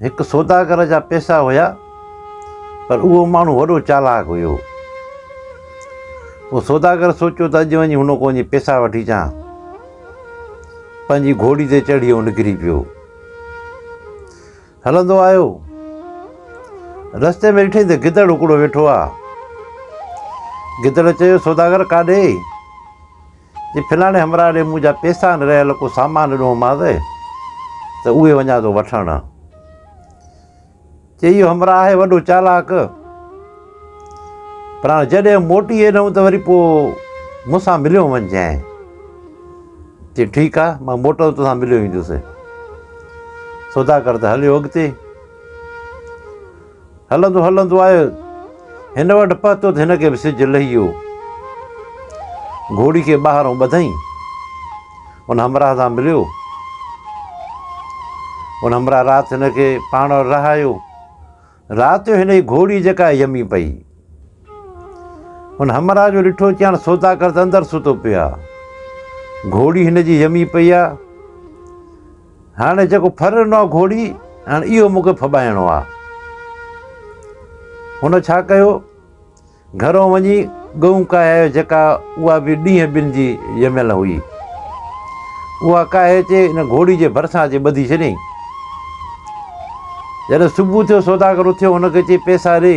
هڪ سوداگر جا پيسا هيا پر اهو ماڻهو وڏو چالاڪ هيو اهو سوداگر سوچيو ته اڄ وڃي هن کان وڃي پيسا وٺي اچان پنهنجي گهوڙي تي چڙهي هو نڪري پيو هلندو آيو رستي ۾ ڏٺي ته گدڙ هڪڙو ويٺو آهي گدڙ چيو سوداگر ڪاڏي جي فلاڻي همراهه ڏي مون جا پيسا آهن رهيل ڪو سامان ڏنومانس ته اهي وڃان ٿو وٺڻ چي اهو همراهه آهي وڏو چالاڪ پر هاڻ جڏهن موٽي ايندؤ ته وري پوء مون سان مليو وڃجانء چي ٺيڪ آهي مان موٽو تو سان مليو ايندس سوداگر ته هليو اڳتي هلندو هلندو آء هن وٽ پهتو ته هن کي به سج لهي ويو. گهوڙي کي ٻاهرون ٻڌائين. ان همراهه سان مليو. ان همراهه رات هن کي پاڻ وٽ رهايو. رات جو هن جي گهوڙي جيڪا يمي پئي. ان همراهه جو ڏٺو چي هاڻ سوداگر ته اندر ستو پيو آهي. گهوڙي هن جي يمي پئي آهي. هاڻي جيڪو ڦر ڏنو آهي گهوڙي، هاڻي اهو مون کي ڦٻائڻو آهي. هن ڇا ڪيو؟ گهرون وڃي ڳئون ڪاهي آيو جيڪا اها به ڏينهن ٻن جي ڄميل هئي. اها ڪاهي اچي ان گهوڙي جي ڀرسان اچي ٻڌي ڇڏيائين. جڏهن صبح ٿيو سوداگر اٿيو هن کي چيائين پيسا ڏي.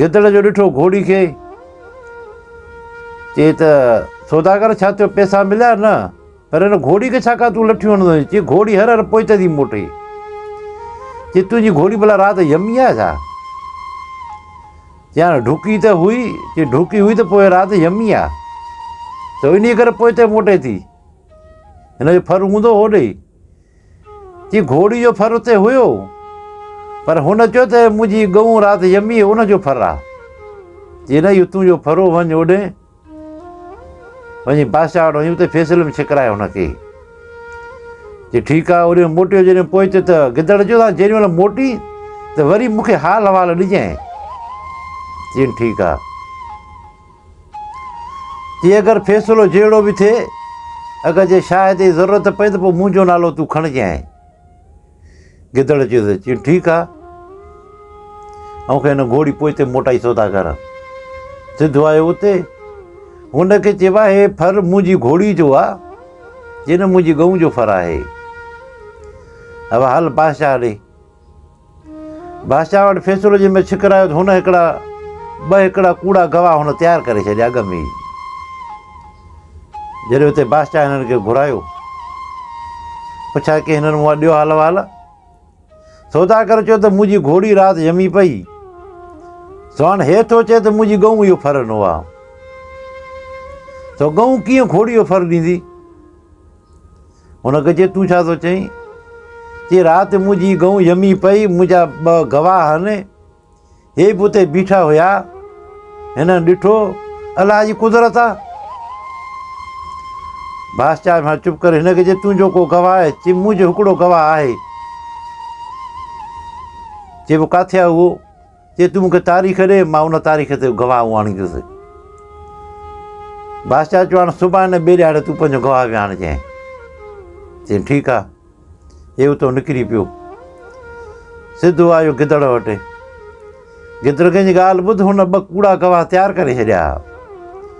گدڙ جو ڏٺو گهوڙي کي، چي ته سوداگر ڇا ٿيو پئسا مليا نه، پر هن گهوڙي کي ڇاڪاڻ تون لٺيون هڻندو آهين، چي گهوڙي هر هر پوئتي ٿي موٽي، چي تنهنجي گهوڙي ڀلا رات يمي آهي ڇا، چي هاڻي ڍوڪي ته هئي، چي ڍوڪي هئي ته پوء رات يمي آهي، سو انهي ڪري پوئتي موٽي ٿي، هن جو ڦر هوندو هوڏي ئي. جي گهوڙي جو ڦر اتي هيو پر هن چيو ته منهنجي ڳئون رات ڄمي ان جو ڦر آهي جي نه اهو تنهنجو ڦرو وڃ اوڏي وڃي بادشاهه وٽ وڃي اتي فيصلي ۾ ڇڪرائي هن کي جي ٺيڪ آهي اوڏي موٽيو جڏهن پهچيو ته گدڙ چيو تان جيڏي مهل موٽي ته وري مونکي حال حوال ڏجانء چين ٺيڪ آهي جي اگر فيصلو جهڙو به ٿئي، اگر جي شاهد جي ضرورت پئي ته پوء منهنجو نالو تون کڻجانء. گدڙ چيو ته چيو ٺيڪ آ. آئون کي هن گهوڙي پوئتي موٽائي سودا ڪر. سڌو آيو اتي. هن کي چيو آهي ڦر منهنجي گهوڙي جو آ. جن منهنجي ڳئون جو ڦر آهي. اها هل بادشاهه ڏي. بادشاهه وٽ فيصلو جنهن مهل ڇڪر آيو ته هن هڪڙا ٻه هڪڙا ڪوڙا گواهه هن تيار ڪري ڇڏيا اڳ ۾ ئي. جڏهن اتي بادشاهه هنن کي گهرايو پڇا ڪيائين هنن مون وٽ ڏيو حال وال. سودا ڪري چيو ته منهنجي گهوڙي رات ڄمي پئي سو هاڻ هي ٿو چئي ته منهنجي ڳئون اهو ڦر ڏنو آ سو ڳئون ڪيئن گهوڙي جو ڦر ڏيندي. هن کي چيو تون ڇا ٿو چئين؟ چي رات منهنجي گئون يمي پئي منهنجا ٻه گواهه آهن هي به اتي بيٺا هيا هن ڏٺو الله جي قدرت آ بادشاهه مان چپ ڪري هن کي چي تنهنجو ڪو گواهه آهي چي منهنجو هڪڙو گواهه آهي چي پو ڪاٿي آ اهو جي تون مونکي تاريخ ڏي مان ان تاريخ تي گواهه اڻيندس. بادشاهه چيو هاڻ صبح نه ٻئي ڏهاڙي تون پنهنجو گواهه به آڻ جانء. چيائين ٺيڪ آ. هي اتو نڪري پيو. سڌو آيو گدڙ وٽ. گدڙ ڪنهنجي ڳالهه ٻڌ هن ٻه ڪوڙا گواهه تيار ڪري ڇڏيا.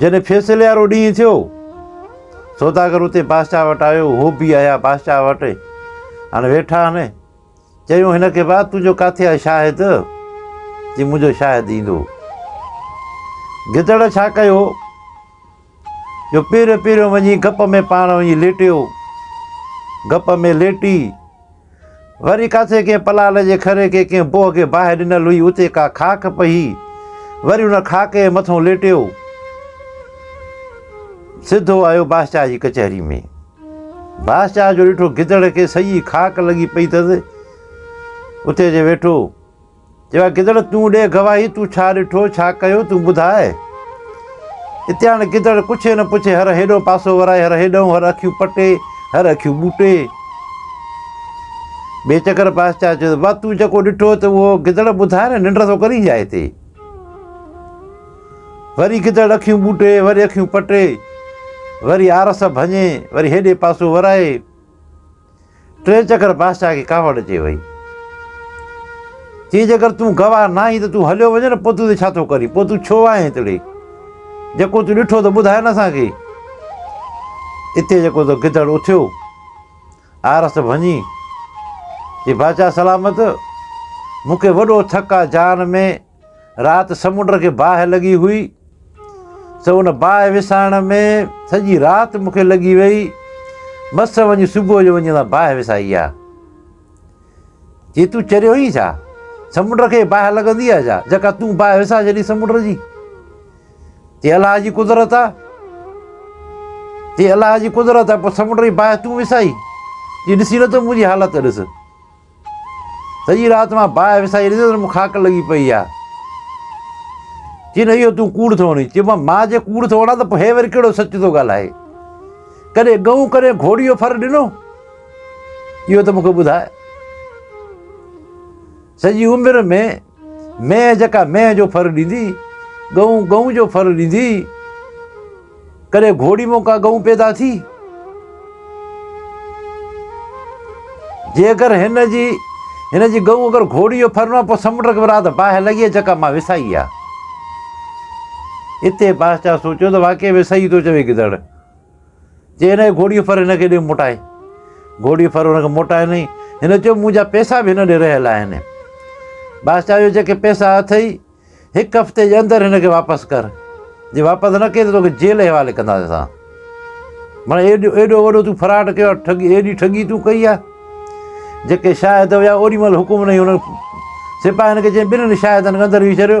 جڏهن فيصلي وارو ڏينهن ٿيو، سوداگر اتي بادشاهه وٽ آيو، هو به آيا بادشاهه وٽ، هاڻي ويٺا آهن، چيو هن کي ڀاء تنهنجو ڪاٿي آهي شاهد؟ چي منهنجو شاهد ايندو. گدڙ ڇا ڪيو جو پهريون پهريون وڃي گپ ۾ پاڻ وڃي ليٽيو، گپ ۾ ليٽي وري ڪاٿي ڪنهن پلال جي کري کي ڪنهن بوهه کي باهه ڏنل هئي، اتي ڪا خاڪ پهي، وري ان خاڪ جي مٿئون ليٽيو. سڌو آيو بادشاهه جي ڪچهري ۾. بادشاهه جو ڏٺو گدڙ کي سڄي خاڪ لڳي پئي اٿس، اتي اچي ويٺو. چيو آهي گدڙ تون ڏي گواهي تون ڇا ڏٺو ڇا ڪيو تون ٻڌاء. اتي هاڻي گدڙ پڇي نه پڇي هر هيڏهون پاسو ورائي هر هيڏهون هر اکيون پٽي هر اکيون ٻوٽي. بي چڪر بادشاهه چيو ته وا تون جيڪو ڏٺو ته اهو گدڙ ٻڌاء نه ننڊ ٿو ڪرين جاء تي. وري گدڙ اکيون ٻوٽي وري اکيون پٽي وري آرس ڀڃي وري هيڏي پاسو ورائي. ٽئين چڪر بادشاهه کي ڪاوڙ اچي وئي. چيائين جيڪر تون گواهه نه آهين ته تون هليو وڃ نه پوء تون هتي ڇا ٿو ڪرين؟ پوء تون ڇو آئين هتڙي؟ جيڪو تون ڏٺو ته ٻڌاء نه اسان کي. اتي جيڪو ته گدڙ اٿيو آرس ڀڃي چي بادشاهه سلامت مون کي وڏو ٿڪ آ جان ۾. رات سمنڊ کي باهه لڳي هئي سو ان باهه وسائڻ ۾ سڄي رات مون کي لڳي وئي مس وڃي صبح جو وڃي ان باهه وسائي آ جي تون چريو ئي ڇا سمنڊ کي باهه لڳندي آ ڇا جيڪا تون باهه وسا جڏي سمنڊ جي جي الله جي قدرت آ جي الله جي قدرت آ پوء سمنڊ جي باهه تون وسائي جي ڏسي نٿو منهنجي حالت ڏس سڄي رات مان باهه وسائي ريندس ته مون خاڪ لڳي پئي آ چين اهو تون ڪوڙ ٿو وڻين چيو مان مان جي ڪوڙ ٿو وڻان ته پوء هي وري ڪهڙو سچ ٿو ڳالهائي ڪڏهن ڳئون ڪڏهن گهوڙي جو ڦر ڏنو اهو ته مون کي ٻڌاء سڄي عمر ۾ مينهن جيڪا مينهن جو ڦر ڏيندي، ڳئون ڳئون جو ڦر ڏيندي، ڪڏهن گهوڙي مون ڪا ڳئون پيدا ٿي؟ جيڪر هن جي هن جي ڳئون اگر گهوڙي جو ڦر نه پوء سمنڊ کي رات باهه لڳي آهي جيڪا مان وسائي آهي. اتي بادشاهه سوچيو ته واقعي ۾ صحيح ٿو چوي گدڙ. چيائين هن کي گهوڙيء جو ڦر هن کي ڏي موٽائي. گهوڙيء جو ڦر هن کي موٽائي ڏنائين. هن چيو منهنجا پئسا به هن ڏي رهيل آهن. بادشاهه چيو جيڪي پئسا اٿئي هڪ هفتي جي اندر هن کي واپس ڪر. جي واپس نه ڪيئي ته توکي جيل جي حوالي ڪنداسين اسان. مڙئي ايڏو ايڏو وڏو تون فراڊ ڪيو آهي ٺڳي ايڏي ٺڳي تون ڪئي آهي. جيڪي شاهد هيا اوڏي مهل حڪم ڏنائين هن سپاهين کي چيائين ٻنهي شاهدن کي اندر ويهي ڇڏيو.